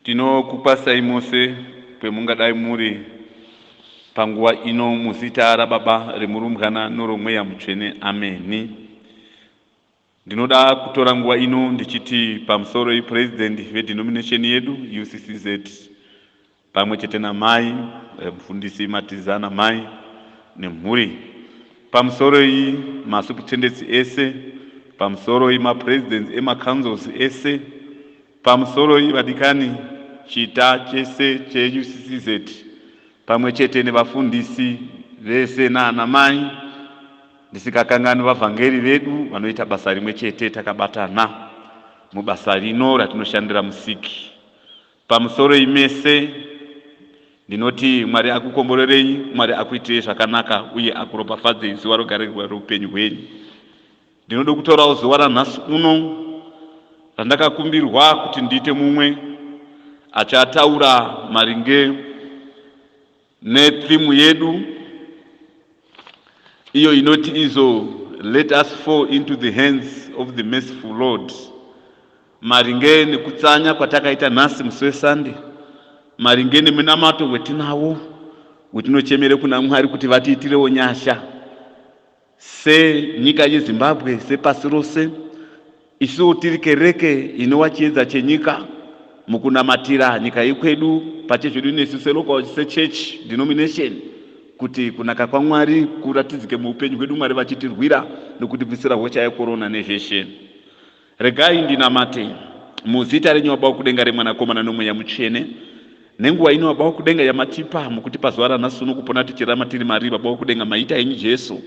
Tinokukwasai mose kwemungadai muri panguva ino muzita raBaba, reMurumbwana noroMweya Mutsvene. Ameni. Ndinoda kutora nguva ino ndichiti pamusoro iPresident veDenomination yedu, UCCZ, pamwe chete namai eh, mufundisi Matiza namai nemhuri pamusoro iyi masuputendetsi ese pamusoro iyi mapresidents emacouncils ese pamusoro iyi vadikani chita chese cheuccz pamwe chete nevafundisi vese naanamai ndisikakangani vavhangeri vedu vanoita basa rimwe chete takabatana mubasa rino ratinoshandira musiki Pamusoroi mese ndinoti Mwari akukomborerei, Mwari akuitirei zvakanaka uye akuropafadzei zuva rogare reupenyu hwenyu. Ndinoda kutorawo zuva ranhasi uno randakakumbirwa kuti ndiite mumwe achataura maringe Netheme yedu iyo inoti izo let us fall into the hands of the merciful Lord, maringe nekutsanya kwatakaita nhasi musi weSunday, maringe nemunamato wetinawo wetinochemere kuna Mwari kuti vatiitirewo nyasha. Senyika yeZimbabwe, sepasi rose, isuwo tiri kereke inova chiedza chenyika mukunamatira nyika yekwedu pachezvedu nesu selocal sechechi denomination kuti kunaka kwaMwari kuratidzike muupenyu hwedu, Mwari vachitirwira nokutibvisira hosha yekorona nezveshe. Regai ndinamate muzita renyu Baba wokudenga remwanakomana nomweya mutsvene nenguva ino Baba wokudenga yamatipa mukutipa zuva ranhasi uno kupona tichirama tiri mari Baba wokudenga maita henyu Jesu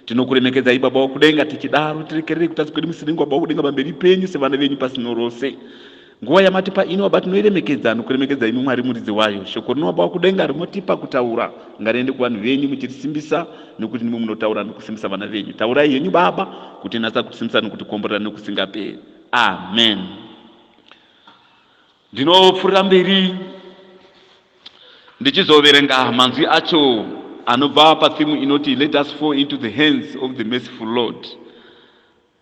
tinokuremekedzai Baba wokudenga tichidaro tirekererei kutadza kwedu musiringo Baba wokudenga pamberi penyu sevana venyu pasino rose nguva yamatipa ino Baba tinoiremekedza nokuremekedza imi Mwari muridzi wayo shoko rino Baba wokudenga rimotipa kutaura Ngariende kuvanhu venyu muchirisimbisa, nokuti ndimwi munotaura nokusimbisa vana venyu. Taurai henyu, Baba, kutinatsa, kutisimbisa nokutikomborera nokusingaperi. Amen. Ndinopfuurira mberi ndichizoverenga manzwi acho anobva pathimu inoti Let us fall into the hands of the merciful Lord.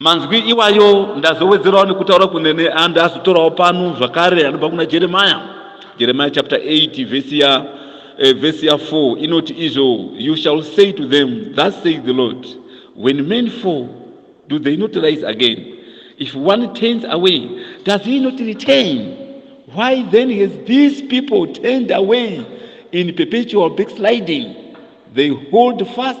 Manzwi iwayo ndazowedzerawo nekutaura kunene and azotorawo pano zvakare anobva kuna Jeremiah. Jeremiah chapter 8 verse ya uh, verse ya 4 inoti izvo you shall say to them thus says the Lord when men fall do they not rise again if one turns away does he not return why then has these people turned away in perpetual backsliding they hold fast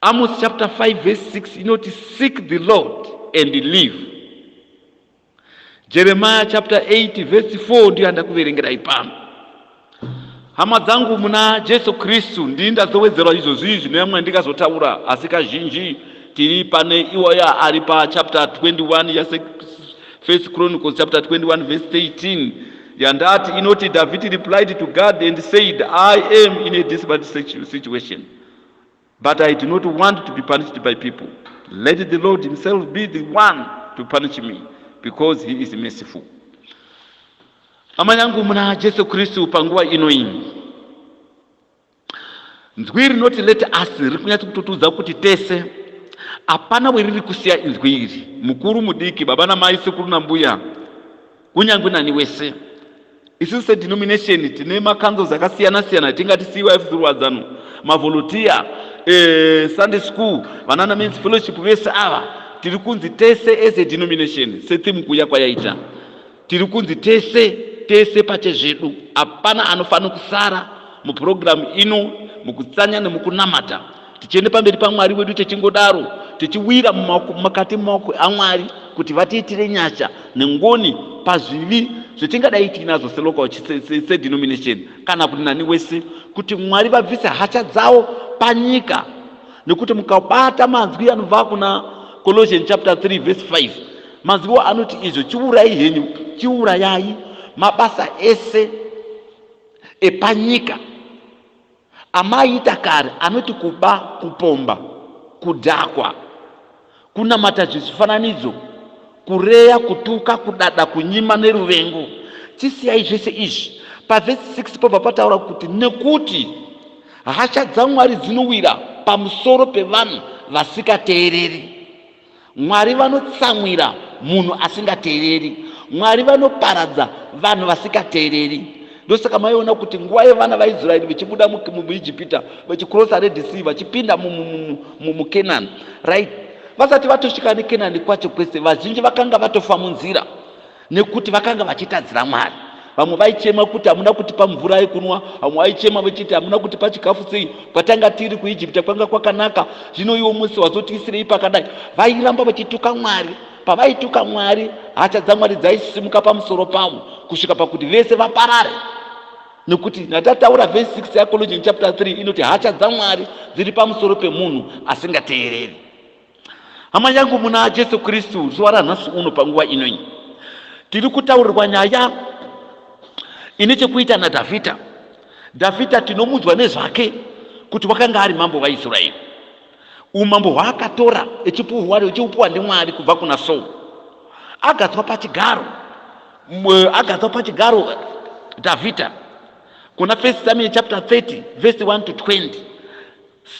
Amos chapter 5 verse 6 inoti seek the Lord and live. Jeremiah chapter 8 verse 4 ndiyo yandakuverengerai pano. Hama dzangu muna Jesu Kristu ndini ndazowedzerwa izvozvi zvinova mwandikazotaura asi kazhinji tiri pane iwaya ari pachapter 21 yase First Chronicles chapter 21 verse 18 yandati inoti David replied to God and said I am in a desperate situation but I do not want to be punished by people. Let the Lord Himself be the one to punish me because He is merciful. Hama yangu muna Jesu Kristu, panguva ino iyi nzwi rinoti let us riri kunyatsa kutotiudza kuti tese hapana weriri kusiya inzwi iri, mukuru, mudiki, baba namai, sekuru nambuya Kunyange nani wese. Isusu sedenomination tine macanzels akasiyana siyana tingati CYF Zirwadzano, mavolunteer, eh, Sunday school, vanana men's fellowship vese ava tiri kunzi tese as a denomination setheme kuya kwayaita tiri kunzi tese tese pache zvedu hapana anofanira kusara mupurogiramu ino mukutsanya nemukunamata tichienda pamberi pamwari wedu tichingodaro tichiwira makati maoko amwari kuti vatiitire nyasha nengoni pazvivi zvetingadai tiinazvo selocal sedenomination kana kuti nani wese kuti mwari vabvise hasha dzavo panyika nekuti mukabata manzwi anobva kuna colossian chapter 3 verse 5 manzwiwo anoti izvo chiurai henyu chiurayai mabasa ese epanyika Amai Dakare anoti kuba, kupomba, kudhakwa, kunamata zvezvifananidzo, kureya, kutuka, kudada, kunyima neruvengo. Chisiyai zvese izvi. Pavhesi 6 pobva pataura kuti nekuti hasha dzaMwari dzinowira pamusoro pevanhu vasikateereri. Mwari vanotsamwira munhu asingateereri. Mwari vanoparadza vanhu vasikateereri. Ndosaka maiona kuti nguva yevana vaIsraeri vachibuda muIjipita vachikrosa Red Sea vachipinda muKenani, right? Vasati vatosvika neKenani kwacho kwese, vazhinji vakanga vatofa munzira. nekuti vakanga vachitadzira mwari vamwe vaichema kuti hamuna kutipa mvura yekunwa vamwe vaichema vachiti hamuna kutipa chikafu sei kwatanga tiri kuijipita kwanga kwakanaka zvino iwo musi wazotiisirei pakadai vairamba vachituka mwari pavaituka mwari hasha dzamwari dzaisimuka pamusoro pavo kusvika pakuti vese vaparare nekuti natataura vhesi 6 yacologin chapter 3 inoti hasha dzamwari dziri pamusoro pemunhu asingateereri hama yangu muna jesu kristu zuva ranhasi uno panguva inoi tiri kutaurirwa nyaya ine chekuita nadhavhidha dhavhidha tinomunzwa nezvake kuti wakanga ari mambo vaisraeri umambo hwaakatora echipuhwa echiupuwa ndimwari kubva kuna saul agadzwa pachigaro agadzwa pachigaro dhavhidha kuna first samuel chapter 30 verse 1 to 20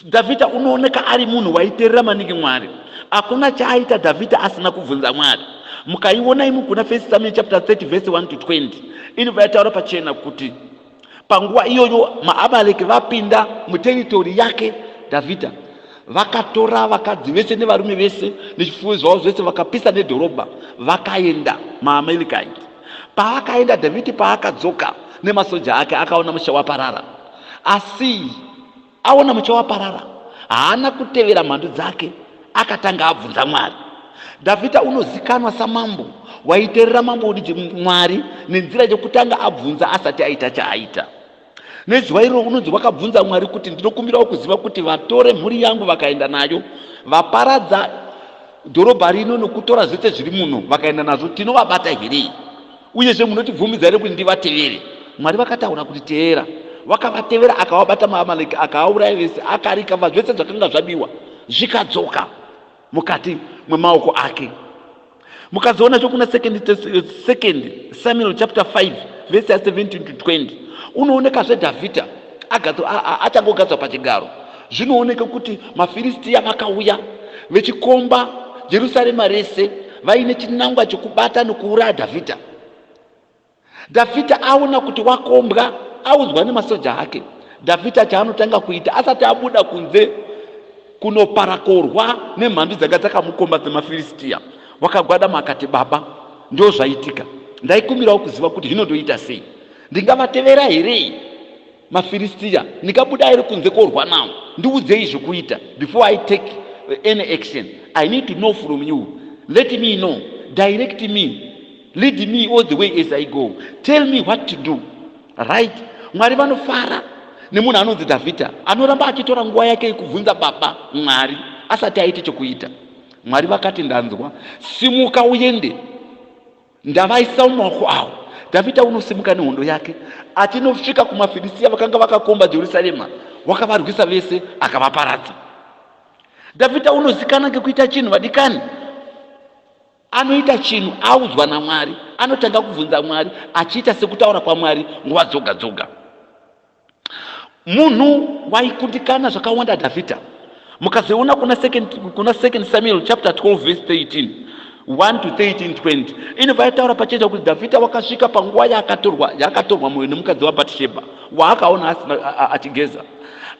Dhavhidha unooneka ari munhu waiterera maningi Mwari. Hakuna chaaita Dhavhidha asina kubvunza Mwari. Mukaiona imi kuna First Samuel chapter 30 verse 1 to 20 inobva yataura pachena kuti panguva iyoyo maAmaleki vapinda muteritori yake Dhavhidha vakatora vakadzi vese nevarume vese nezvifuwo zvavo zvese vakapisa nedhorobha vakaenda maamaleki aya paakaenda dhavhidhi paakadzoka nemasoja ake akaona musha waparara asi aona mucha waparara haana kutevera mhandu dzake akatanga abvunza mwari dhavhidha unozikanwa samambo waiterera mambo udiji mwari nenzira yekutanga abvunza asati aita chaaita nezuva iroro unonzi wakabvunza mwari kuti ndinokumbirawo kuziva kuti vatore mhuri yangu vakaenda nayo vaparadza dhorobha rino nokutora zvese zviri muno vakaenda nazvo tinovabata here Uyezve munotibvumidza here kuti ndivatevere? Mwari vakataura kuti, Teera. Vakavatevera, akavabata maAmaleki, akaauraya vese, akarikava zvese zvakanga zvabiwa, zvikadzoka mukati mwemaoko ake. Mukazoona zvokuna second, second Samuel chapter 5 verse ya 17 to 20 unoonekazve Dhavhidha achangogadzwa pachigaro Zvinooneka kuti maFiristia vakauya vechikomba Jerusarema rese vaine chinangwa chekubata nokuuraya Dhavhidha. Dhavhidha aona kuti wakombwa, audzwa nemasoja ake. Dhavhidha chaanotanga kuita asati abuda kunze kunoparakorwa nemhandu dzanga dzakamukomba dzemaFiristia, wakagwadama akati, Baba, ndo zvaitika. Ndaikumbirawo kuziva kuti hino ndoita sei? Ndingavatevera here? mafiristiya ndikabuda airi kunze korwa nawo ndiudzei zvekuita before i take any action i need to know from you let me know direct me lead me all the way as i go tell me what to do right mwari vanofara nemunhu anonzi dhavhidha anoramba achitora nguva yake yekubvunza baba mwari asati aite chokuita mwari vakati ndanzwa simuka uende Ndavaisa mumaoko avo. Dhavhidha unosimuka nehondo yake achinosvika kumaFirisiya vakanga vakakomba Jerusarema, wakavarwisa vese akavaparadza. Dhavhidha unozikana ngekuita chinhu vadikani, anoita chinhu audzwa naMwari, anotanga kubvunza Mwari achiita sekutaura kwaMwari nguva dzoga dzoga. munhu waikundikana zvakawanda dhavhidha mukazoona kuna second, kuna second samuel chapter 12 verse 13 1 to 13 20 inobva yataura pacheza kuti dhavhidha wakasvika panguva yaakatorwa yaakatorwa mwoyo nemukadzi wabatishebha waakaona achigeza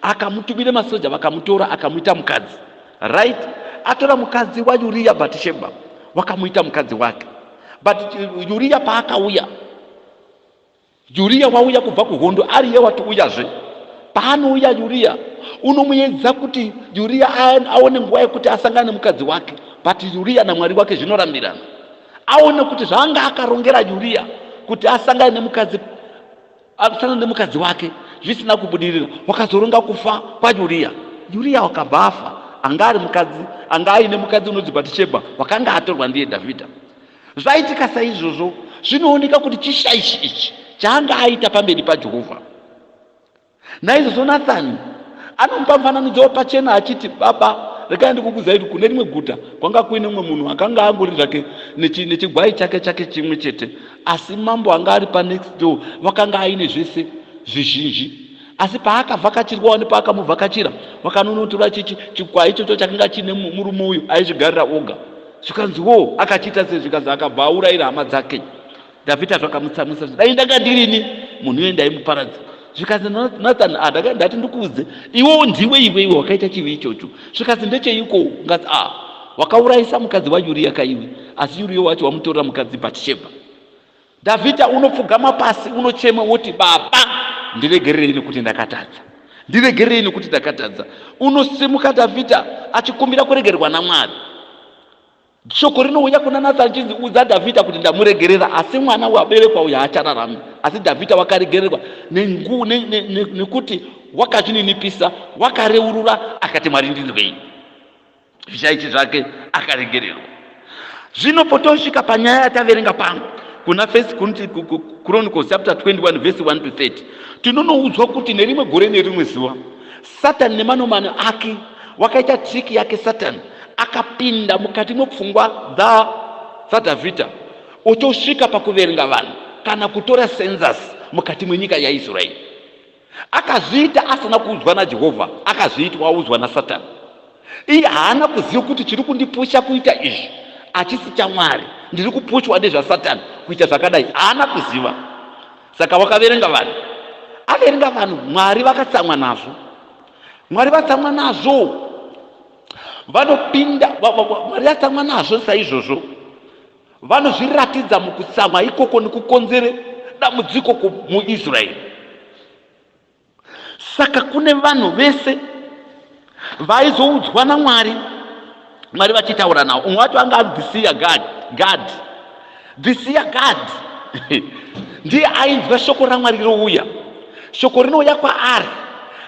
akamutumira masoja vakamutora akamuita mukadzi right atora mukadzi wayuriya batishebha wakamuita mukadzi wake but yuriya paakauya Yuria wauya kubva kuhondo ariye watiuyazve. Paanouya Yuria unomuedza kuti Yuria aone nguva yekuti asangane nemukadzi wake but Yuria naMwari wake zvinorambirana. Aone kuti zvaanga akarongera Yuria kuti asangane nemukadzi asangane nemukadzi wake zvisina kubudirira wakazoronga kufa kwaYuria. Yuria wakabva afa anga ari mukadzi anga aine mukadzi unonzi Bhatishebha wakanga atorwa ndiye Dhavhidha. Zvaitika saizvozvo zvinooneka kuti chishaishi ichi chaanga aita pamberi paJehovha. Naizvozvo Nathani anomupa mufananidzo wepachena achiti, Baba, regai ndikukuzairi kune rimwe guta kwanga kuine mumwe munhu akanga angori zvake nechigwai chake chake chimwe chete, asi mambo anga ari panext door vakanga aine zvese zvizhinji asi paakavhakachirwawo nepaakamuvhakachira vakanonotora chichi chikwai ichocho chakanga chiine murume uyu aizvigarira oga. zvikanzi wo akachiita sei zvikanzi akabva aurayira hama dzake dhavhidha zvakamutsamwisa zvi dai ndanga ndirini munhu iye ndaimuparadza zvikanzi nathan a ah, ndaka ndati ndikuudze iwewo ndiwe iwe iwe wakaita chivi ichocho zvikanzi ndecheiko ngati a ah, wakaurayisa mukadzi wayuriya kaiwe asi yuriyo wacho wamutorera mukadzi bhatishebha Dhavhidha unopfugama pasi unochema woti, Baba, ndiregererei nekuti ndakatadza, ndiregererei nekuti ndakatadza. Unosimuka Dhavhidha achikumbira kuregererwa naMwari. Shoko rinouya kuna Nathani chinzi, Udza Dhavhidha kuti ndamuregerera, asi mwana waberekwa uyu haachararami. Asi Dhavhidha wakaregererwa nekuti wakazvininipisa, wakareurura, akati, Mwari ndinzwei. zvishaishi zvake akaregererwa zvino potosvika panyaya yataverenga pano kuna first chronicles chapter 21 verse 1 to 30 tinonoudzwa kuti nerimwe gore nerimwe zuva satani nemanomano ake wakaita triki yake satani akapinda mukati mwepfungwa dza dzadhavhidha otosvika pakuverenga vanhu kana kutora senzasi mukati mwenyika yaisraeri Akazviita asina kuudzwa naJehovha, akazviitwa audzwa naSatani. Iye haana kuziva kuti chiri kundipusha kuita izvi hachisi chaMwari, ndiri kupushwa nezvaSatani kuita zvakadai. Haana kuziva. Saka wakaverenga vanhu, averenga vanhu Mwari vakatsamwa nazvo. Mwari vatsamwa nazvo, vanopinda Mwari vatsamwa nazvo saizvozvo. Vanozviratidza mukutsamwa ikoko nekukonzere dambudziko muIsraeri. Saka kune vanhu vese vaizoudzwa naMwari, Mwari vachitaura navo. Umwe wacho anga ari Dhisiya Gadhi. Gadhi. Dhisiya Gadhi ndiye ainzwa shoko raMwari rouya. Shoko rinouya kwaari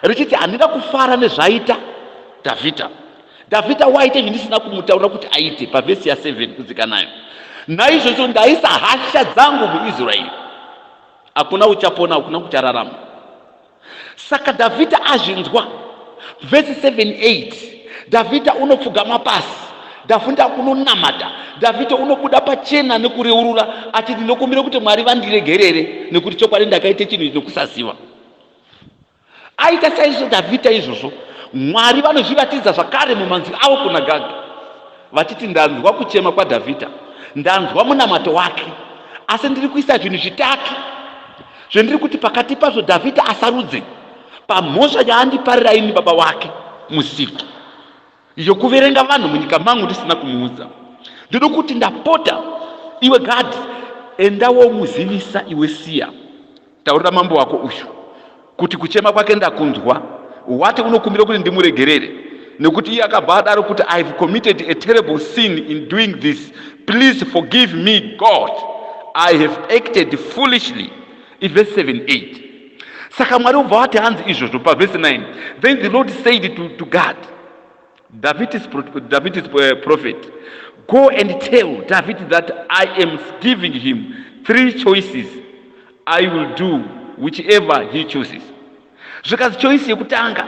richiti handina kufara nezvaita Dhavhidha. Dhavhidha waita izvi ndisina kumutaurira kuti aite pavhesi ya 7 kudzikanayo naizvozvo ndaisa hasha dzangu muisraeri hakuna uchapona hakuna kuchararama saka dhavhidha azvinzwa vhesi 78 dhavhidha unopfugama pasi dhavhidha unonamata dhavhidha unobuda pachena nekureurura achiti ndinokumbira kuti mwari vandiregerere nekuti chokwadi ndakaita chinhu chinokusaziva Aita saizvo Dhavhidha izvozvo, Mwari vanozviratidza zvakare mumanzwi avo kuna Gaga, vachiti, Ndanzwa kuchema kwaDhavhidha, ndanzwa munamato wake, asi ndiri kuisa zvinhu zvitatu zvendiri kuti pakati pazvo Dhavhidha asarudze pamhosva yaandiparira ini baba wake musiki. yokuverenga vanhu munyika mangu ndisina kumuudza ndoda kuti ndapota iwe gadhi enda womuzivisa iwe siya taurira mambo wako uyu kuti kuchema kwake ndakunzwa wati unokumbira kuti ndimuregerere nekuti iye akabva adaro kuti i have committed a terrible sin in doing this please forgive me god i have acted foolishly ivhesi 7 8 saka mwari obva wati hanzi izvozvo pavhesi 9 then the lord said to, to god david is, david is uh, prophet go and tell david that i am giving him three choices i will do whichever he chooses zvikanzi choice yekutanga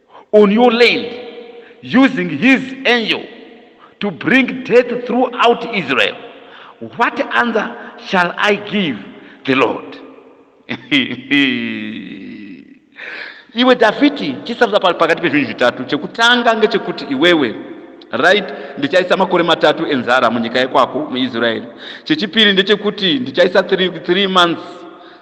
on your land using his angel to bring death throughout Israel. What answer shall I give the Lord? iwe dhavhidhi chisarudza pakati pezvinhu zvitatu chekutanga ngechekuti iwewe right ndichaisa makore matatu enzara munyika yekwako muisraeri chechipiri ndechekuti ndichaisa three, three months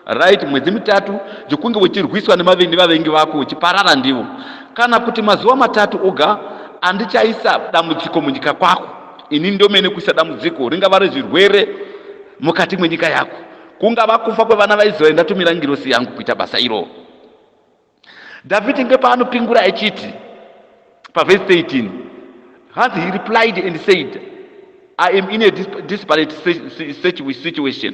right mwedzi mitatu zvekunge uchirwiswa nemavengi vavengi vako uchiparara ndivo kana kuti mazuva matatu oga andichaisa dambudziko munyika kwako ini ndomene kuisa dambudziko ringava rezvirwere mukati mwenyika yako kungava kufa kwevana vaisraeri ndatumira ngirosi yangu kuita basa iro dhavhidhi ngepaanopingura echiti pavhesi 13 hanzi he replied and said i am in a disparate situation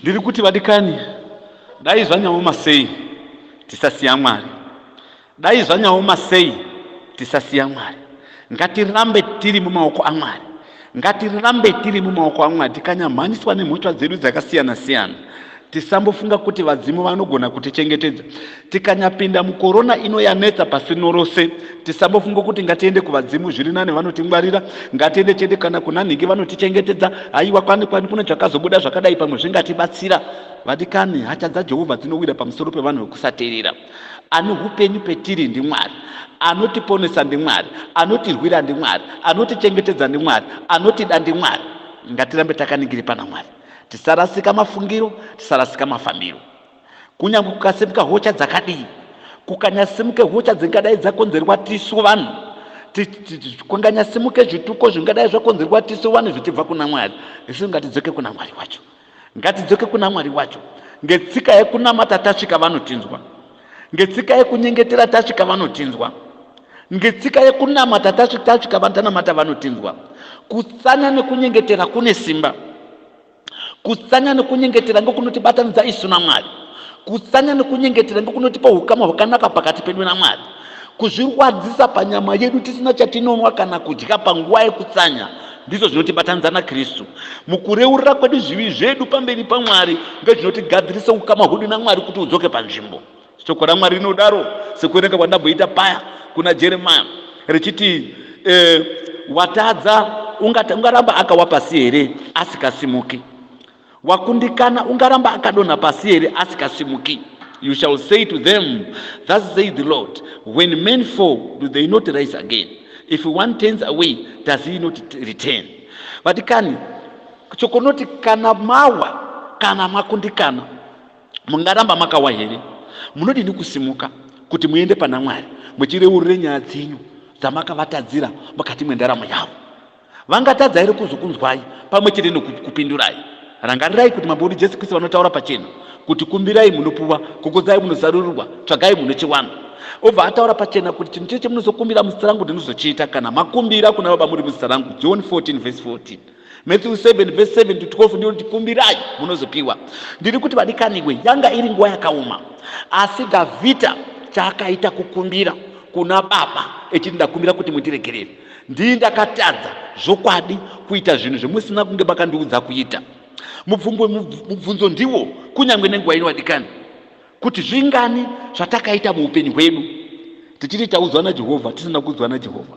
Ndiri kuti vadikani, dai zvanyaoma sei tisasiya Mwari, dai zvanyaoma sei tisasiya Mwari. Ngatirambe tiri mumaoko aMwari, ngatirambe tiri mumaoko aMwari, tikanyamhanyiswa nemhosva dzedu dzakasiyana siyana. Tisambofunga kuti vadzimu vanogona kutichengetedza. Tikanyapinda mukorona ino yanetsa pasi norose, tisambofunga kuti ngatiende kuvadzimu zviri nani vanotingwarira, ngatiende chete kana kuna nhingi vanotichengetedza. Haiwa, kwani kwani kune zvakazobuda zvakadai pamwe zvingatibatsira. Vadikani, hatya dzaJehovha dzinowira pamusoro pevanhu vekusateerera. Ane upenyu petiri ndiMwari. Anotiponesa ndiMwari. Anotirwira ndiMwari. Anotichengetedza ndiMwari. Anotida ndiMwari. Ngatirambe takaningiri pana Mwari. Tisarasika mafungiro, tisarasika mafambiro. Kunyange kukasimuka hocha dzakadii, kukanyasimuke hocha dzingadai dzakonzerwa tisu vanhu, kunganyasimuke zvituko zvingadai zvakonzerwa tisu vanhu zvichibva kuna Mwari, isu ngatidzoke kuna Mwari wacho. Ngatidzoke kuna Mwari wacho. Ngetsika yekunamata tasvika vanotinzwa. Ngetsika yekunyengetera tasvika vanotinzwa. Ngetsika yekunamata tasvika vatanamata vanotinzwa. Kutsanya nekunyengetera kune simba. Kutsanya nekunyengetera ndokunotibatanidza isu naMwari. Kutsanya nekunyengetera ndokunotipa ukama hwakanaka pakati pedu naMwari. Kuzvirwadzisa panyama yedu tisina chatinonwa kana kudya panguva yekutsanya Ndizvo zvinotibatanidza naKristu mukureurura kwedu zvivi zvedu pamberi paMwari, ndozvinotigadzirise ukama hwedu naMwari kuti udzoke panzvimbo. Shoko raMwari rinodaro, sekuverenga kwandamboita paya kuna Jeremiya, richiti e, watadza ungaramba akawapasi here asikasimuki? wakundikana ungaramba akadonha pasi here asikasimuki you shall say to them thus say the lord when men fall do they not rise again if one turns away does he not return vati kani chokonoti kana mawa kana makundikana mungaramba makawa here munodini kusimuka kuti muende pana mwari muchireurure nyaya dzenyu dzamakavatadzira mukati mwendaramo yavo Vangatadza here kuzokunzwai pamwe chete nokukupindurai? Rangarirai kuti Mambo wedu Jesu Kristu vanotaura pachena kuti kumbirai munopuwa, kukudzai munozarurirwa, tsvagai munochiwana. Obva ataura pachena kuti chinhu chese chemunozokumbira muzita rangu ndinozochiita kana makumbira kuna Baba muri muzita rangu. John 14 vhesi 14. Matthew 7 vhesi 7 to 12 ndiyo kuti kumbirai munozopiwa. Ndiri kuti vadikaniwe, yanga iri nguva yakaoma, asi Dhavhidha chaakaita kukumbira kuna Baba echiti ndakumbira kuti mundiregerere. ndii ndakatadza zvokwadi kuita zvinhu zvemusina kunge makandiudza kuita mubvungo mubvunzo ndiwo kunyange nenguva ino vadikani kuti zvingani zvatakaita muupenyu hwedu tichiti taudzwa najehovha tisina kuudzwa najehovha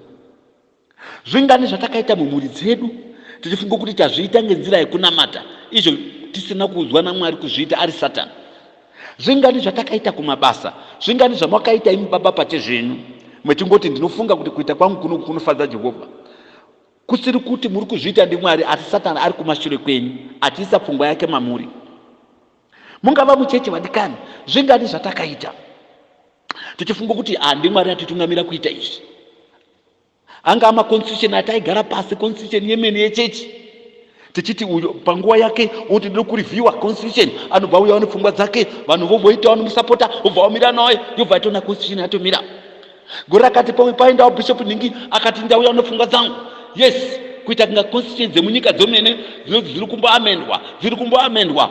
zvingani zvatakaita mumhuri dzedu tichifunga kuti tazviita ngenzira yekunamata izvo tisina kuudzwa namwari kuzviita ari satani Zvingani zvatakaita kumabasa, zvingani zvamakaita imi baba pache zvenyu, mechingoti ndinofunga kuti kuita kwangu kuno kunofadza Jehovha. Kusiri kuti muri kuzviita ndiMwari, asi Satani ari kumashure kwenyu, achiisa pfungwa yake mamuri. Mungava mucheche vadikani, zvingani zvatakaita tichifunga kuti handiMwari atitungamira kuita izvi. anga ama constitution ati aigara pasi constitution yemene yechechi tichiti uyo panguva yake oti ndiri kureviewa constitution anobva uya one pfungwa dzake vanhu vomboita vanomusapota obva wamira naye yobva yatona constitution yatomira gore rakati pamwe paendawo bishop nhingi akati ndauya one pfungwa dzangu yes kuita kunga constitution dzemunyika dzomene dzinoti dziri kumboamendwa dziri kumboamendwa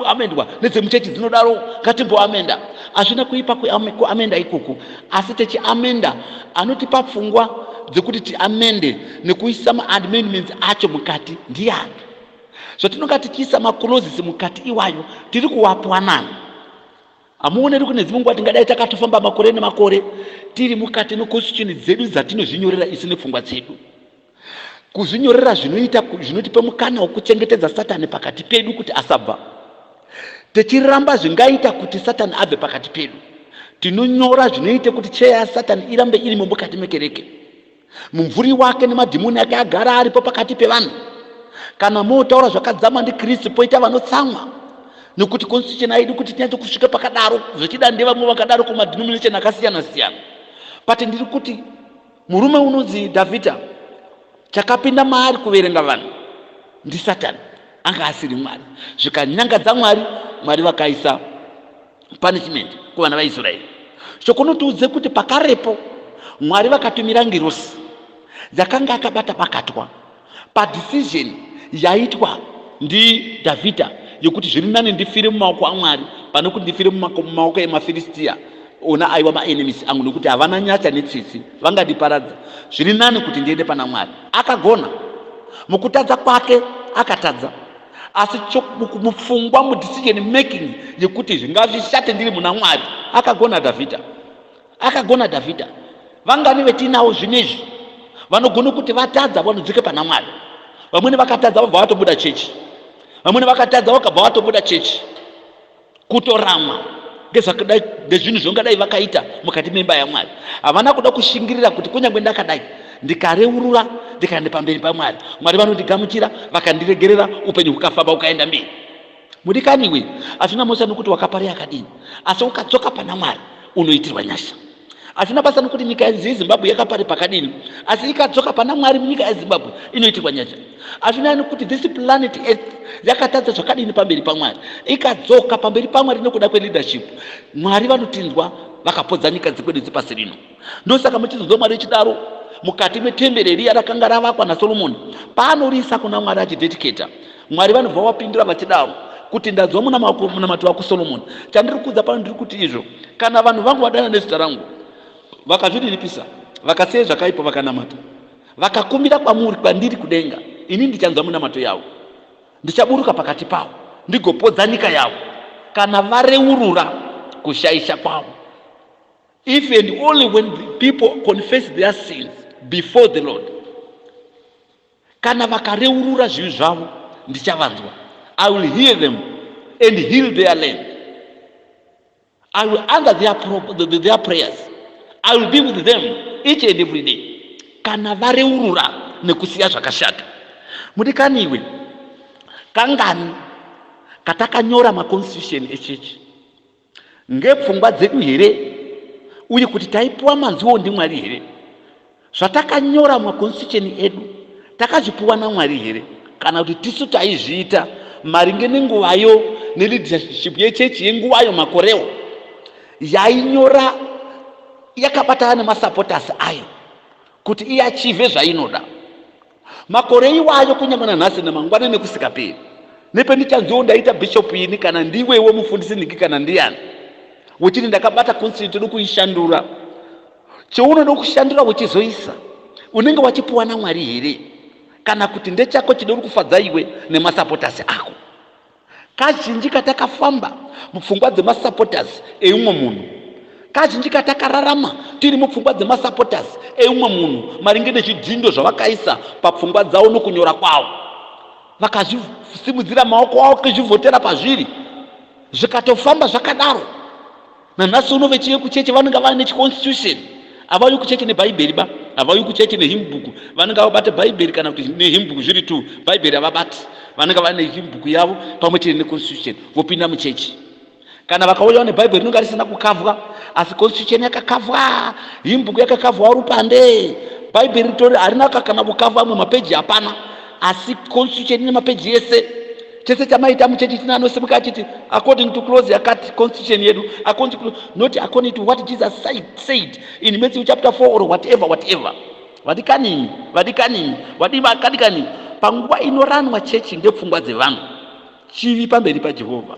amendwa nedzemuchechi dzinodaro ngatimboamenda hazvina kuipa kuamenda ikoku Asi Techi Amenda anotipa pfungwa dzekuti tiamende nekuisa maamendments acho mukati ndiani. Zvatinonga tichiisa macloses mukati iwayo tiri kuwapwa nani? Hamuoneri kune dzimwe nguva tingadai takatofamba makore nemakore tiri mukati meconstitution dzedu dzatinozvinyorera isu nepfungwa dzedu. Kuzvinyorera zvinoita zvinotipa mukana wokuchengetedza Satani pakati pedu kuti asabva. Tichiramba zvingaita kuti Satani abve pakati pedu. Tinonyora zvinoita kuti cheya yaSatani irambe irimo mukati mekereke. Mumvuri wake nemadhimoni ake agara aripo pakati pevanhu. Kana mootaura zvakadzama ndiKristu, poita vanotsamwa nokuti constitution aidi kuti tinyatso kusvika pakadaro zvechida ndevamwe vakadaro kumadhinomination akasiyana siyana but ndiri kuti Murume unonzi Dhavhidha, chakapinda maari kuverenga vanhu ndiSatani, anga asiri Mwari. Zvikanyangadza Mwari, Mwari vakaisa punishment kuvana vaIsraeri. Chokunotiudze kuti pakarepo Mwari vakatumira ngirosi dzakanga akabata bakatwa padecision yaitwa ndidhavhidha yekuti zviri nani ndifire mumaoko amwari pane kuti ndifire mumaoko emafiristiya ona aiwa maenemis angu nekuti havana nyatsa netsitsi vangandiparadza zviri nani kuti ndiende pana mwari akagona mukutadza kwake akatadza asi mupfungwa mudecision making yekuti zvingazvishate ndiri muna mwari akagona dhavhidha Akagona Dhavhidha. Vangani vetinawo zvinezvi vanogona kuti vatadza vanodzoka pana Mwari. Vamwene vakatadza vabva vatobuda chechi. Vamwene vakatadza vakabva vatobuda chechi. Kutoramwa ngezvakadai ngezvinhu zvaungadai vakaita mukati memba yaMwari. Havana kuda kushingirira kuti kunyange ndakadai ndikareurura ndikaenda pamberi pamwari mwari vanondigamuchira vakandiregerera upenyu hukafamba ukaenda mberi Mudikani iwe hazvina mhosva nokuti wakaparei akadini, asi ukadzoka pana Mwari unoitirwa nyasha. Hazvina basa nokuti nyika yanzi yeZimbabwe yakapare pakadini, asi ikadzoka pana Mwari munyika yeZimbabwe inoitirwa nyasha. Hazvina nokuti this planet earth yakatadza zvakadini pamberi paMwari, ikadzoka pamberi paMwari nokuda kweleadership, Mwari vanotinzwa vakapodza nyika dzekwedu dzepasi rino. Ndosaka muchinzwa Mwari echidaro mukati metembere riya rakanga ravakwa naSolomoni paanoriisa kuna Mwari achidedicata. Mwari vanobva vapindura vachidaro kuti ndanzwa munamato wako Solomoni. Chandiri kuudza pano ndiri kuti izvo kana vanhu vangu vadana nezita rangu vakazviriripisa vakasiya zvakaipa vakanamata vakakumbira kwamuri kwandiri kudenga ini ndichanzwa munamato yavo ndichaburuka pakati pavo ndigopodza nyika yavo kana vareurura kushaisha kwavo If and only when people confess their sins before the Lord, kana vakareurura zvivi zvavo, ndichavanzwa. I will hear them and heal their land. I will answer their, pro, their prayers. I will be with them each and every day. Kana vareurura nekusiya zvakashata. Mudikani iwe, kangani katakanyora maconstitution echechi Ngepfungwa dzedu here uye kuti taipuwa manziwo ndiMwari here? Zvatakanyora mumakonstitusheni edu takazvipuwa naMwari here kana kuti tisu taizviita maringe nenguvayo neleadership yechechi yenguvayo makorewo yainyora yakabatana nemasupporters ayo kuti iachive zvainoda Makore iwayo kunyange nanhasi namangwana nekusikaperi. Nependichanzwewo ndaita bishop ini kana ndiwewo mufundisi niki kana ndiyani. Wechiti ndakabata council tiri kuishandura. Cheunoda kushandura wechizoisa unenge wachipuwa naMwari here? Kana kuti ndechako chidori kufadza iwe nemasapotas ako. Kazhinji katakafamba mupfungwa dzemasupporters eumwe munhu. Kazhinji katakararama tiri mupfungwa dzemasupporters eumwe munhu maringe nezvidhindo zvavakaisa papfungwa dzavo nokunyora kwavo. Vakazvisimudzira maoko avo kuzvivhotera pazviri zvikatofamba zvakadaro. Nanhasi uno vechive kucheche vanenge vane chiconstitution havauyi kucheche nebhaibheri ba havauyi kucheche nehimbhuku vanenge vabate bhaibheri kana kuti nehimbhuku zviri two bhaibheri havabati vanenge vane himbhuku yavo pamwe chete neconstitution vopinda muchechi kana vakauyawo nebhaibheri rinenge risina kukavwa asi constitution yakakavwa himbhuku yakakavwa rupande bhaibheri ritori harina kakana kukavwa amwe mapeji hapana asi constitution ine mapeji ese chese chamaita muchechi china anosimuka achiti according to close yakati constitution yedu according to, not according to what jesus said, said in matthew chapter 4 or whatever whatever vadikani vadikani vadii vakadikani panguva inoranwa chechi ndepfungwa dzevanhu chivi pamberi pajehovha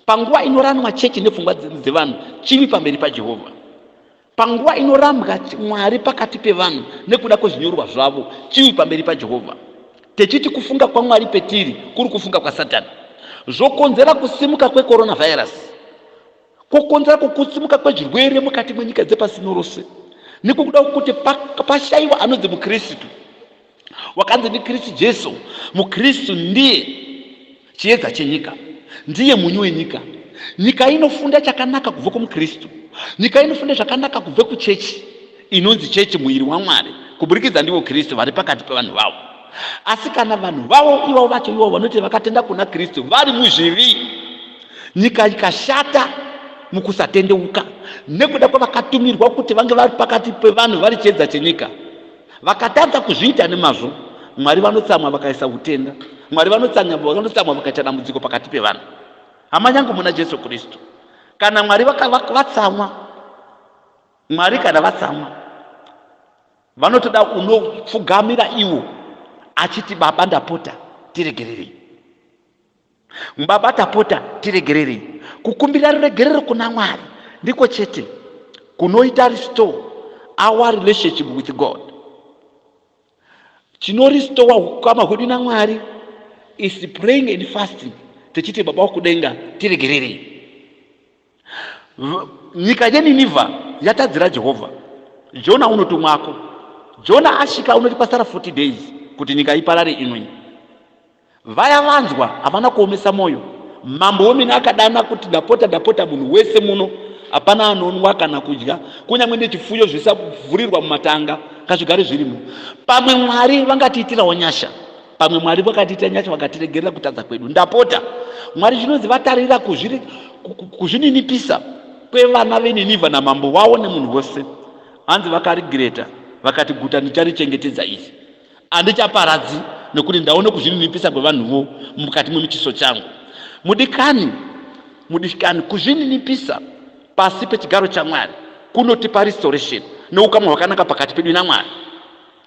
panguva inoranwa chechi nepfungwa dzevanhu chivi pamberi pajehovha Panguva inorambwa Mwari pakati pevanhu nekuda kwezvinyorwa zvavo, chivi pamberi paJehovha, techiti kufunga kwaMwari petiri kuri kufunga kwaSatani, zvokonzera kusimuka kwecoronavirus, kwokonzera kukutsimuka kwezvirwere mukati mwenyika dzepasi rino rose, nekuda kwokuti pashaiwa anonzi muKristu. wakanzi ndikristu jesu mukristu ndiye chiedza chenyika ndiye munyu wenyika nyika inofunda chakanaka kubva kumukristu nyika inofunda zvakanaka kubva kuchechi inonzi chechi muviri wamwari kuburikidza ndivo kristu vari pakati pevanhu vavo asi kana vanhu vavo ivavo vacho ivavo vanoti vakatenda kuna kristu vari muzvivi nyika ikashata mukusatendeuka nekuda kwavakatumirwa kuti vange vari pakati pevanhu vari chiedza chenyika Vakatadza kuzviita nemazvo, Mwari vanotsamwa vakaisa hutenda. Mwari vanotsamwa vanotsamwa vakaita dambudziko pakati pevanhu. Hama yangu muna Jesu Kristu, kana Mwari vaka- vaka- vatsamwa, Mwari kana vatsamwa, vanotoda unopfugamira iwo achiti, Baba, ndapota tiregererei. Baba tapota tiregererei. Kukumbira ruregerero kuna Mwari ndiko chete kunoita restore our relationship with God. Chinorestore ukama hwedu naMwari is praying and fasting techiti baba wekudenga tiregererei. Nyika yeNinivha yatadzira Jehovha. Jona unotumwako. Jona asvika unoti kwasara 40 days kuti nyika iparare imwe. Vaya vanzwa havana kuomesa mwoyo. Mambo wemene akadana kuti ndapota ndapota munhu wese muno hapana anonwa kana kudya kunyange nechifuyo zvisavhurirwa mumatanga ngazvigare zvirimo. Pamwe Mwari vangatiitirawo nyasha pamwe mwari vakatiita nyasha vakatiregerera kutadza kwedu ndapota mwari zvinonzi vatarira kuzvininipisa kwevana veninivha namambo vawo nemunhu wose hanzi vakarigireta vakati guta ndicharichengetedza iri handichaparadzi nekuti ndaone kuzvininipisa kwevanhuwo mukati mwemuchiso changu mudikani mudikani kuzvininipisa pasi pechigaro chamwari kunotipa restoration neukamwa hwakanaka pakati pedu namwari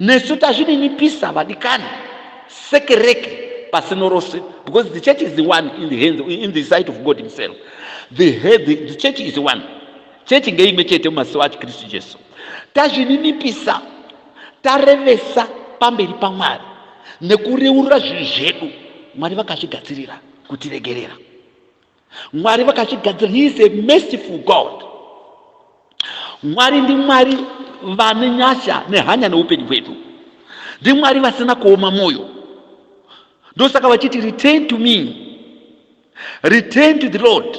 Nesu tazvininipisa vadikani sekereke pasino rose because the church is the one in the hands in the sight of God himself the head the church is one church ngeimwe chete mumaziso acho Kristu Jesu tazvininipisa tarevesa pamberi paMwari nekureurura zvinhu zvedu Mwari vakazvigadzirira kutiregerera Mwari vakazvigadzira. He is a merciful God. Mwari ndi Mwari vane nyasha nehanya neupenyu hwedu. Ndi Mwari vasina kuoma moyo. Ndosaka vachiti return to me. Return to the Lord.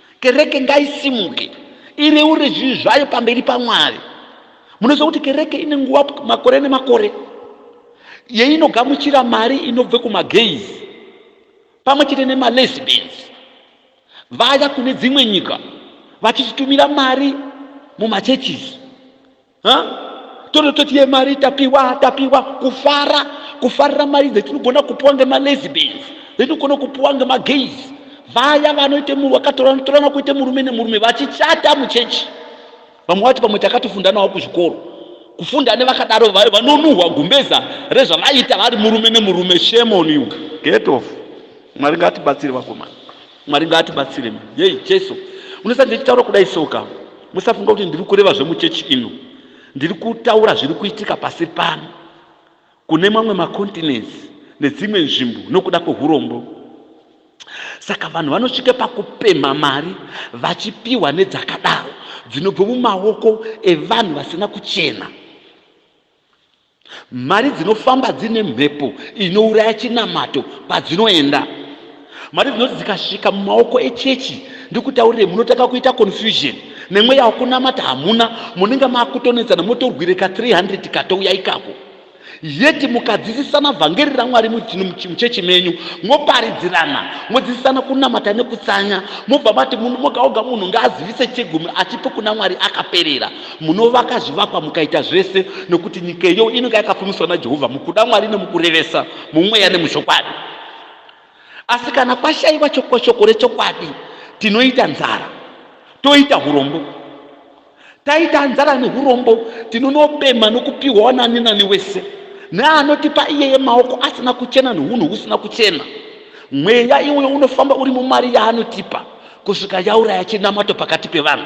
Kereke ngaisimuke ireure zvivi zvayo pamberi paMwari. Munoziva kuti kereke ine nguva makore nemakore yeinogamuchira mari inobve kumagays pamwe chete nemalesbians vaya kune dzimwe nyika vachichitumira mari mumachurches tonototi yemari tapiwa tapiwa kufara kufarira mari dzetinogona kupiwa ngemalesbians dzetinogona kupiwa ngemagays vaya vanoita munhu wakatorana torana kuita murume nemurume vachichata muchechi vamwe vati pamwe takatofunda navo kuzvikoro kufunda nevakadaro vayo vanonuhwa gumbeza rezvavaita vari murume nemurume shemoniu get off mwari ngatibatsiri vakomana Mwari ngaatibatsire. Yei Jesu. Unosa ndichitaura kudai soka. Musafunga kuti ndiri kureva zvemuchechi ino. Ndiri kutaura zviri kuitika pasi pano. Kune mamwe macontinents nedzimwe nzvimbo nokuda kwehurombo. Saka vanhu vanosvika pakupemha mari vachipiwa nedzakadaro dzinobva mumaoko evanhu vasina kuchena. Mari dzinofamba dzine mhepo inouraya chinamato kwadzinoenda. Mari dzinoti dzikasvika mumaoko echechi, ndikutaurire, munotanga kuita confusion nemweya wakunamata hamuna, munenge makutonetsana motorwire ka 300 katouya ikako yeti mukadzidzisana vhangeri ramwari muchechi menyu moparidzirana modzidzisana kunamata nekutsanya mobva mati munhu moga oga munhu ngaazivise chegumi atipe kuna mwari akaperera munovaka zvivakwa mukaita zvese nokuti nyika iyo inenge yakafumiswa najehovha mukuda mwari nemukurevesa mumweya nemuzvokwadi asi kana kwashayiwa chokoshoko rechokwadi tinoita nzara toita urombo taita nzara neurombo tinonopemha nokupiwawo nani nani wese neanotipa iyeye maoko asina kuchena neunhu husina kuchena mweya iwoyo unofamba uri mumari yaanotipa kusvika yauraya chinamato pakati pevanhu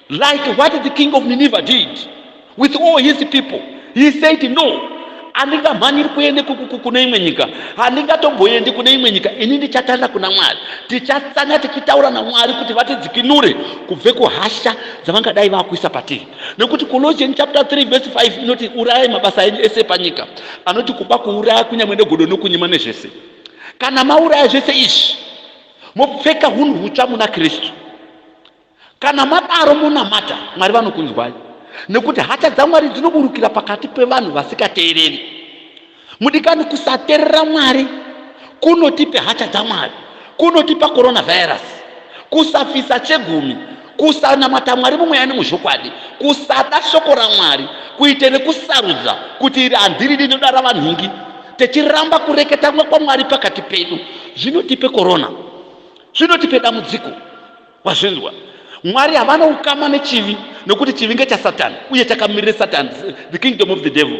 Like what the king of Nineveh did with all his people. He said no. handingamhanyiri kuende kune imwe nyika handingatomboendi kune imwe nyika ini ndichatanga kuna mwari tichatanga tichitaura namwari kuti vatidzikinure kubve kuhasha dzavangadai vakuisa patiri nekuti colossian chapter 3 vese 5 inoti urayai mabasa enyu ese panyika anoti kuba kuuraya kunyamwe negodo nokunyima nezvese kana mauraya zvese izvi mopfeka hunhu hutsva muna kristu Kana madaro monamata, Mwari vanokunzwai, nekuti hasha dzaMwari dzinoburukira pakati pevanhu vasikateereri. Mudikani, kusateerera Mwari kunotipe hasha dzaMwari, kunotipa coronavirus, kusafisa chegumi, kusanamata Mwari mumweya nemuzvokwadi, kusada shoko raMwari, kuite rekusarudza kuti iri handiri rinoda ravanhingi, techiramba kureketa kwaMwari pakati pedu, zvinotipe corona, zvinotipe dambudziko. Wazvinzwa? Mwari havana ukama nechivi nokuti chivi ngechasatani uye chakamirira satani, the kingdom of the devil.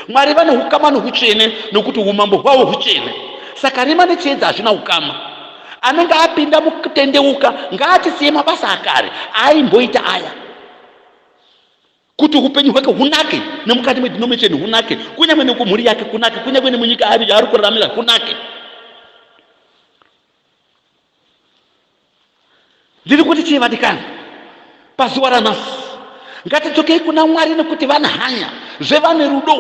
Mwari vane ukama nohutsvene nokuti umambo hwavo hutsvene. Saka rima nechiedza hazvina ukama. Anenge apinda mukutendeuka ngaatisiye mabasa akare aaimboita aya kuti upenyu hwake hunake nemukati medinomination hunake kunyange nekumhuri yake kunake kunyange nemunyika ari yaari kuraramira kunake Ndiri kuti chii vadikani? Pazuva ranhasi ngatidzokei kuna Mwari nekuti vane hanya, zve vane rudo,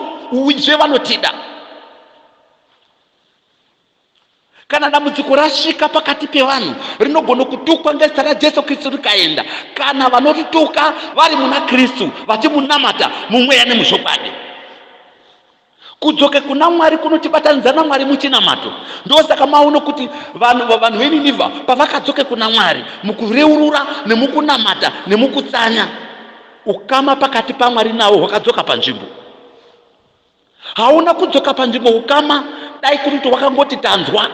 zve vanotida. Kana dambudziko rasvika pakati pevanhu rinogona kutukwa ngezita raJesu Kristu rikaenda, kana vanorituka vari muna Kristu vachimunamata mumweya nemuzvokwadi. Kudzoka kuna Mwari kunotibatanidza naMwari muchinamato. Ndosaka maona kuti vanhu vanhu veNinivha pavakadzoka kuna Mwari mukureurura nemukunamata nemukutsanya, ukama pakati paMwari navo hwakadzoka panzvimbo. Hauna kudzoka panzvimbo ukama dai kuti wakangoti tanzwa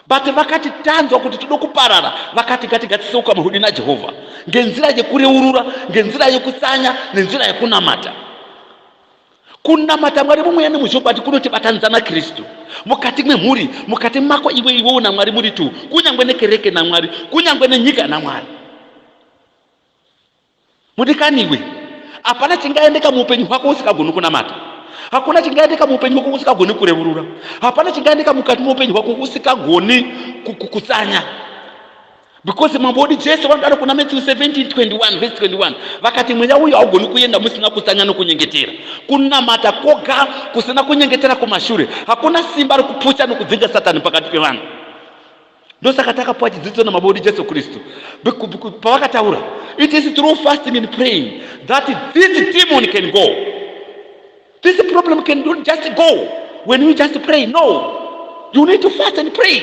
but vakati tanzwa kuti tode kuparara vakati ngatigatisise ukama hwedu najehovha ngenzira yekureurura ngenzira yekutsanya nenzira yekunamata kunamata mwari mumweya nemuchokwadi kunotibatanidza nakristu mukati mwemhuri mukati mako iwe iwewo namwari muri tu kunyange nekereke namwari kunyange nenyika namwari mudikani iwe hapana chingaendeka muupenyu hwako usikagoni kunamata hakuna chingaendeka muupenyu hwako usikagoni kurevurura hapana chingaendeka mukati mweupenyu hwako usikagoni kutsanya because mambo wedu jesu vanodaro kuna matthew 1721 vese 21 vakati mweya uyo haugoni kuenda musina kutsanya nokunyengetera kunamata koga kusina kunyengetera kumashure hakuna simba rokuputsa nokudzinga satani pakati pevanhu ndosaka takapiwa chidzidzo namambo wedu jesu kristu pavakataura it is through fasting and praying that this demon can go this problem can not just go when you just pray no you need to fast and pray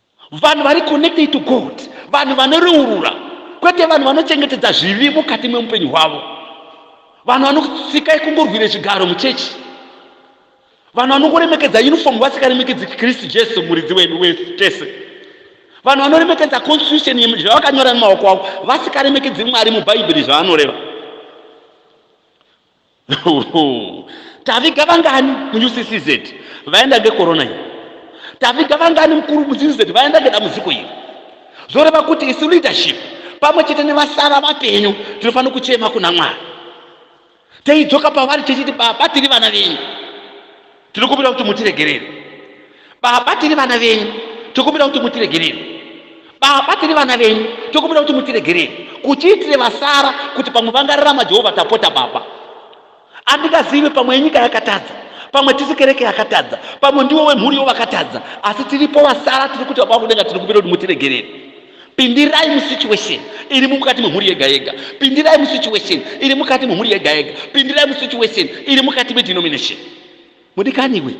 vanhu vari connected to god vanhu vanoreurura kwete vanhu vanochengetedza zvivi mukati mwemupenyu hwavo vanhu vanosikai kungorwira chigaro muchechi vanhu vanongoremekedza uniform vasikaremekedzi kristu jesu muridzi wedu wetese vanhu vanoremekedza constitution zvavakanyora nemaoko avo vasikaremekedzi mwari mubhaibheri zvavanoreva taviga vangani muUCCZ vaenda ngekorona iyi taviga vangani mukuru muUCCZ vaenda ngedambudziko iri zvoreva kuti isu leadership pamwe chete nevasara vapenyu tinofanira kuchema kuna mwari teidzoka pavari tichiti baba tiri vana venyu Tinokumbira kuti mutiregerere. Baba tiri vana venyu. Tinokumbira kuti mutiregerere. Baba tiri vana venyu. Tinokumbira kuti mutiregerere. Kuchiitire vasara kuti pamwe vangararama Jehovha tapota baba. Andingazivi pamwe nyika yakatadza. Pamwe tisi kereke yakatadza. Pamwe ndiwo wemhuri yo vakatadza. Asi tiripo vasara tiri kuti baba kudenga tinokumbira kuti mutiregerere. Pindirai musituation iri mukati memhuri yega yega. Pindirai musituation iri mukati memhuri yega yega. Pindirai musituation iri mukati medenomination. Mudikaniwe,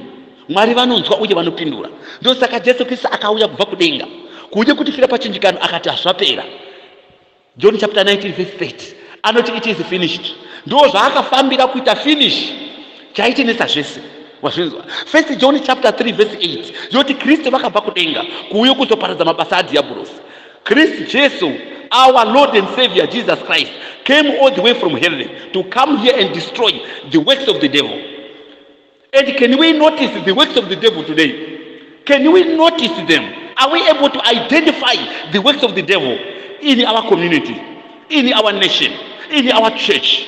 Mwari vanonzwa uye vanopindura. Ndosaka Jesu Kristu akauya kubva kudenga kuuye kutifira pachinjikano akati hazvapera. John chapter 19 verse 30 anoti it is finished. Ndoo zvaakafambira kuita finish chaitenetsa zvese wazvinzwa first john chapter 3 verse 8 yoti kristu vakabva kudenga kuuye kuzoparadza mabasa adhiyabhurosi kristu jesu our lord and savior jesus christ came all the way from heaven to come here and destroy the works of the devil and can we notice the works of the devil today can we notice them are we able to identify the works of the devil in our community in our nation in our church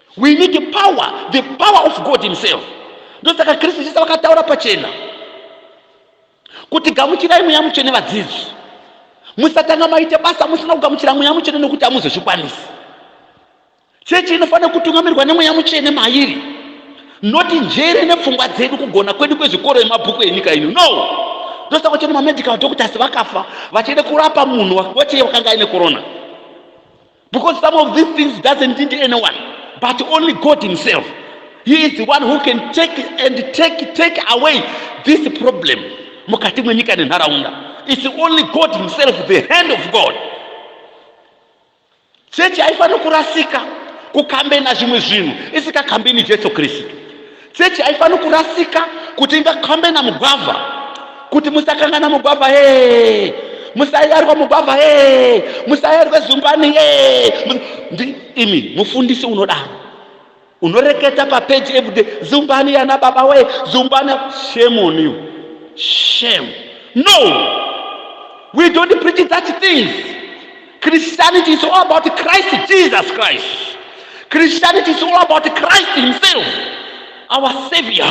We need the power, the power of God himself. Ndosaka Kristu Jesu vakataura pachena kuti gamuchirai mweya mutsvene vadzidzi. Musatanga maite basa musina kugamuchira mweya mutsvene nokuti hamuzozvikwanisi. Chechi inofanira kutungamirwa nemweya mutsvene mairi. Noti njere nepfungwa dzedu kugona kwedu kwezvikoro emabhuku enyika ino. No! Ndosaka kuti mamedical doctors vakafa vachiende kurapa munhu wachiye wakanga aine corona. Because some of these things doesn't need anyone but only God himself. He is the one who can take and take take away this problem mukati mwenyika nenharaunda. It's only God himself, the hand of God. Chechi haifaniri kurasika kukambena zvimwe zvinhu isikakambeni Jesu Kristu. Chechi haifaniri kurasika kuti ingakhambena mugwavha, kuti musakangana mugwavha hee, musayarwa mugwavha hee, musayarwe zumbani hee. Imi mufundisi unodaro unoreketa papeji everyday zumbani yana baba wee zumbani shame on you shame no we don't preach that things Christianity is all about Christ Jesus Christ. Christianity is all about Christ Himself, our Savior,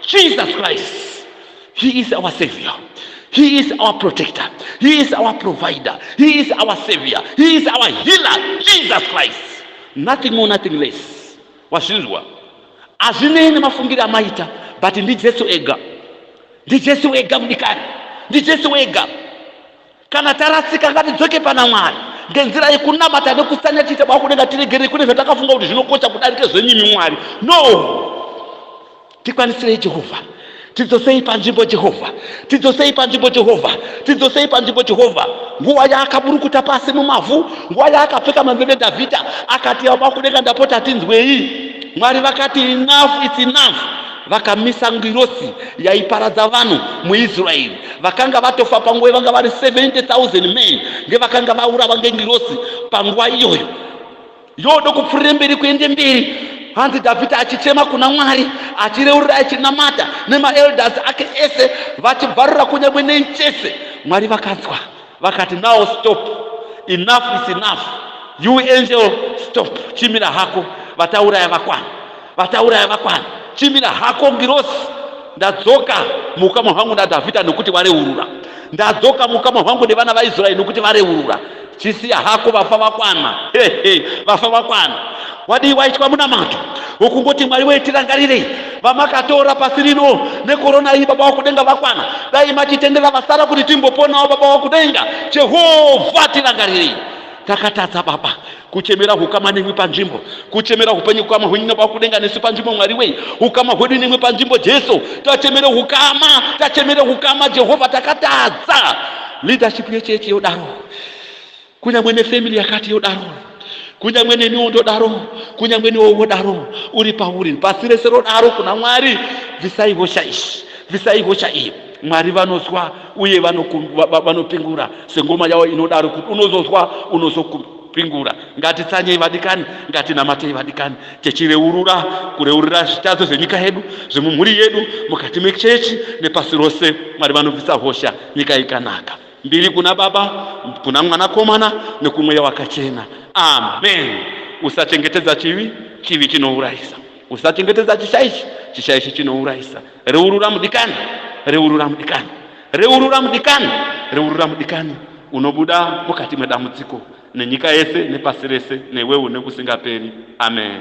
Jesus Christ. He is our Savior. He is our protector. He is our provider. He is our Savior. He is our healer, Jesus Christ. Nothing more, nothing less. Wazvinzwa? Hazvinei nemafungiro amaita, but ndiJesu ega. NdiJesu ega mudikani. NdiJesu ega. Kana tarasika ngatidzoke pana Mwari ngenzira yekunamata nekusanya tiita bwa kudenga tiregerei kune zvatakafunga kuti zvinokosha kudarika zvenyimi Mwari. No! Tikwanisirei Jehovha. Tidzosei panzvimbo Jehovha. Tidzosei panzvimbo Jehovha. Tidzosei panzvimbo Jehovha. Nguva yaakaburukuta pasi mumavhu, nguva yaakapfeka mambebe Dhavhidha akati yabwa kudenga ndapota tinzwei. Mwari vakati enough it's enough. vakamisa ngirosi yaiparadza vanhu muisraeri vakanga vatofa panguva ivanga vari 70000 men ngevakanga vaurawa ngengirosi panguva iyoyo yodo kupfuurire mberi kuende mberi hanzi dhavhidha achichema kuna mwari achireurira achinamata nemaelders ake ese vachibvarura kunyangwe nei chese mwari vakanzwa vakati now stop enough is enough you angel stop chimira hako vatauraya vakwana vatauraya vakwana chimira hako ngirosi ndadzoka muukama hwangu nadhavhidha nokuti vareurura ndadzoka muukama hwangu nevana vaisraeri nokuti vareurura chisiya hako vafa vakwana hehe vafa vakwana Wadii waitwa munamato wokungoti Mwari wee tirangarirei vamakatora pasi rino nekorona iyi baba wakudenga vakwana dai machitendera vasara kuti timboponawo baba wakudenga Jehovha tirangarirei takatadza baba kuchemera hukama nemwe panzvimbo kuchemera hupenyu hukama hwenyu nababa kudenga nesu panzvimbo mwari wei hukama hwedu nemwe panzvimbo jesu tachemere hukama tachemere hukama jehovha takatadza leadership yechechi yodaro kunyangwe nefamily yakati yodaro kunyangwe neniwo ndodaro kunyangwe niwo wodaro uri pauri pasi rese rodaro kuna mwari bvisai hosha izvi bvisai hosha iyi mwari vanozwa uye vanopingura sengoma yavo inodaro kuti unozozwa unozopingura ngatitsanyei vadikani ngatinamatei vadikani tichireurura kureurura zvitadzo zvenyika yedu zvemumhuri yedu mukati mechechi nepasi rose mwari vanobvisa hosha nyika ikanaka Mbiri kuna Baba, kuna Mwanakomana, nokuMweya Wakachena. Amen. Usachengetedza chivi, chivi chinourayisa. Usachengetedza chishaishi, chishaishi chinourayisa. Reurura mudikani, reurura mudikani, reurura mudikani, reurura mudikani. Unobuda mukati mwedambudziko, nenyika yese, nepasi rese, newe une kusingaperi. Amen.